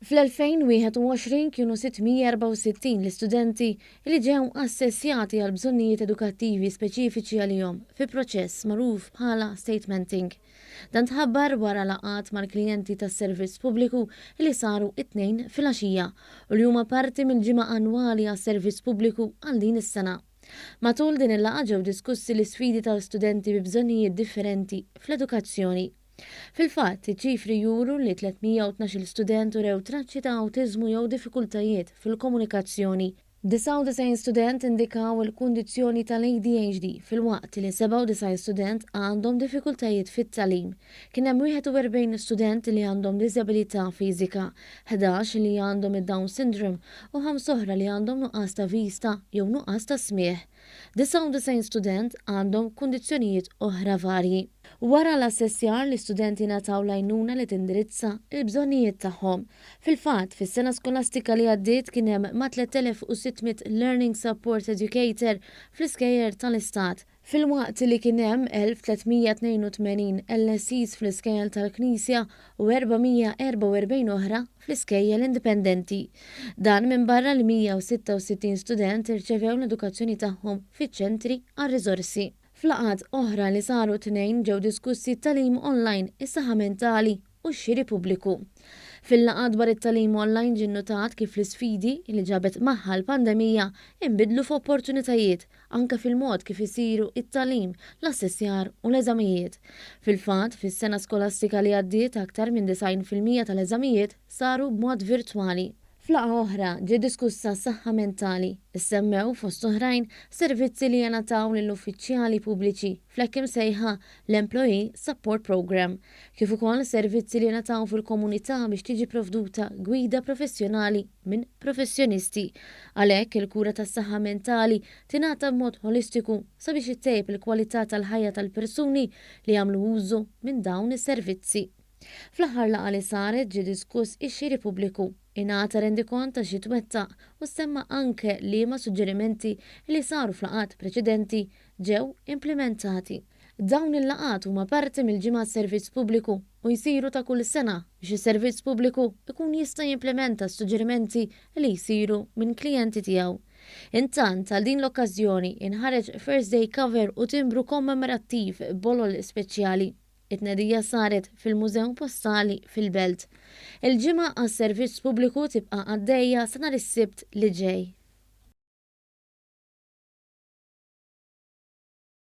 Fl-2021 kienu 664 l-istudenti li ġew assessjati għal bżonnijiet edukattivi speċifiċi għalihom fi proċess magħruf bħala statementing. Dan tħabbar wara laqgħat mal-klijenti tas-Servizz Pubbliku li saru t-Tnejn filgħaxija u li huma parti mill-Ġimgħa Annwali għas-Servizz Pubbliku għal din is-sena. Matul din il-laqgħa ġew diskussi l-isfidi ta' studenti bi bżonnijiet differenti fl-edukazzjoni. Fil-fatt, iċ-ċifri juru li 312-il student urew traċċi ta' awtiżmu jew diffikultajiet fil-komunikazzjoni. 99 student indikaw il-kundizzjoni tal-ADHD filwaqt li 97 student għandhom diffikultajiet fit-tagħlim. Kien hemm 41 student li għandhom diżabilità fiżika, ħdax li għandhom id-Down Syndrome u ħamsa oħra li għandhom nuqqas ta' vista jew nuqqas ta' smigħ. 99 student għandhom kundizzjonijiet oħra varji. Wara l-assessjar, l-istudenti ngħataw l-għajnuna li tindirizza l-bżonnijiet tagħhom. Fil-fatt, fis-sena skolastika li għaddiet kien hemm ma' 3,600 Learning Support Educator fl-iskejjer tal-Istat. Filwaqt li kien hemm 1,382 LSEs fl-iskejjel tal-Knisja u 444 oħra fl-iskejjel indipendenti. Dan minbarra li 166 student irċevew l-edukazzjoni tagħhom fiċ-ċentri għar-riżorsi. F'laqgħat oħra li saru t-Tnejn ġew diskussi t-tagħlim online, is-saħħa mentali u x-xiri pubbliku. Fil-laqgħa dwar it-tagħlim online ġie nnutat kif l-isfidi li ġabet magħha l-pandemija inbidlu f'opportunitajiet anke fil-mod kif isiru t-tagħlim, l-assessjar u l-eżamijiet. Fil-fatt, fis-sena skolastika li għaddiet aktar minn 90 fil-mija tal-eżamijiet saru b'mod virtwali. F'laqgħa oħra ġiet diskussa s-saħħa mentali. Issemmew, fost oħrajn, servizzi li jingħataw lil uffiċjali pubbliċi, fl-hekk imsejħa l-Employee Support Programme, kif ukoll servizzi li jingħataw fil-komunità biex tiġi pprovduta gwida professjonali minn professjonisti. Għalhekk, il-kura tas-saħħa mentali tingħata b'mod ħolistiku sabiex ittejjeb il-kwalità tal-ħajja tal-persuni li jagħmlu użu minn dawn is-servizzi. Fl-aħħar laqgħa li saret ġie diskuss ix-xiri pubbliku. Ingħata rendikont ta' xi twettaq u ssemma anke liema suġġerimenti li saru f'laqgħat preċedenti ġew implimentati. Dawn il-laqgħat huma parti mill-Ġimgħa għas-Servizz Pubbliku u jsiru ta' kull sena biex is-Servizz Pubbliku jkun jista' jimplimenta s-suġġerimenti li jsiru minn klijenti tiegħu. Intant, għal din l-okkażjoni, inħareġ First Day Cover u timbru kommemorattiv b'bolol speċjali. It-tnedija saret fil-Mużew Postali fil-Belt. Il-ġimgħa għas-servizz pubbliku tibqa' għaddejja sa nhar is-Sibt li ġej.